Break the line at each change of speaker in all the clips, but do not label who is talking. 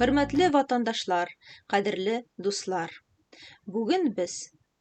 Хөрмәтле ватандашлар, кадерле дуслар! Бүген без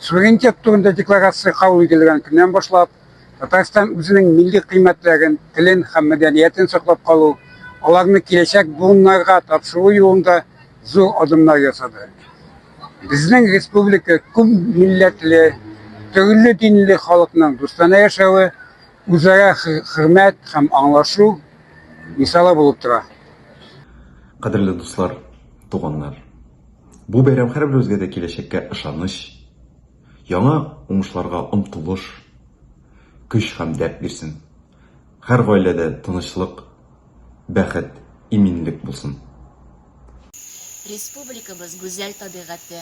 Суверенитет турында декларация кабул ителгән көннән башлап, Татарстан үзенең милли кыйммәтләрен, телен һәм мәдәниятен саклап калу, аларны киләчәк буыннарга тапшыру юлында зур адымнар ясады. Безнең республика күп милләтле, төрле динле халыкның дустана яшәве, үзара хөрмәт һәм аңлашу мисалы булып тора.
Кадерле дуслар, туганнар! Бу бәйрәм һәрберебезгә дә киләчәккә ышаныч, яңа уңышларга омтылыш, көч һәм дәрт бирсен. Һәр гаиләдә тынычлык, бәхет, иминлек булсын!
Республикабыз гүзәл табигате,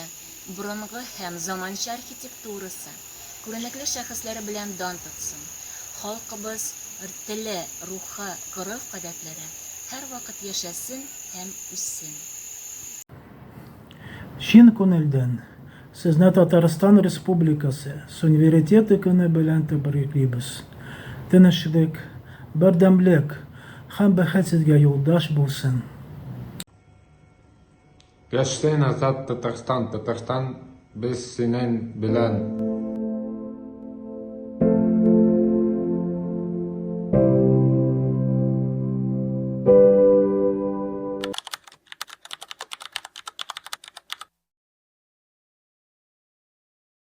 борынгы һәм заманча архитектурасы, Күренекле шәхесләре белән дан тотсын. Халкыбыз ртеле, рухы, гореф-гадәтләре һәрвакыт яшәсен һәм үссен!
Чын күнелдән Сезне Татарстан Республикасы Сунверитеты көне белән тәбриклибез! Тынычлык, бердәмлек һәм бәхет Сезгә юлдаш булсын!
Яшьсен азат Татарстан, Татарстан без синен белән.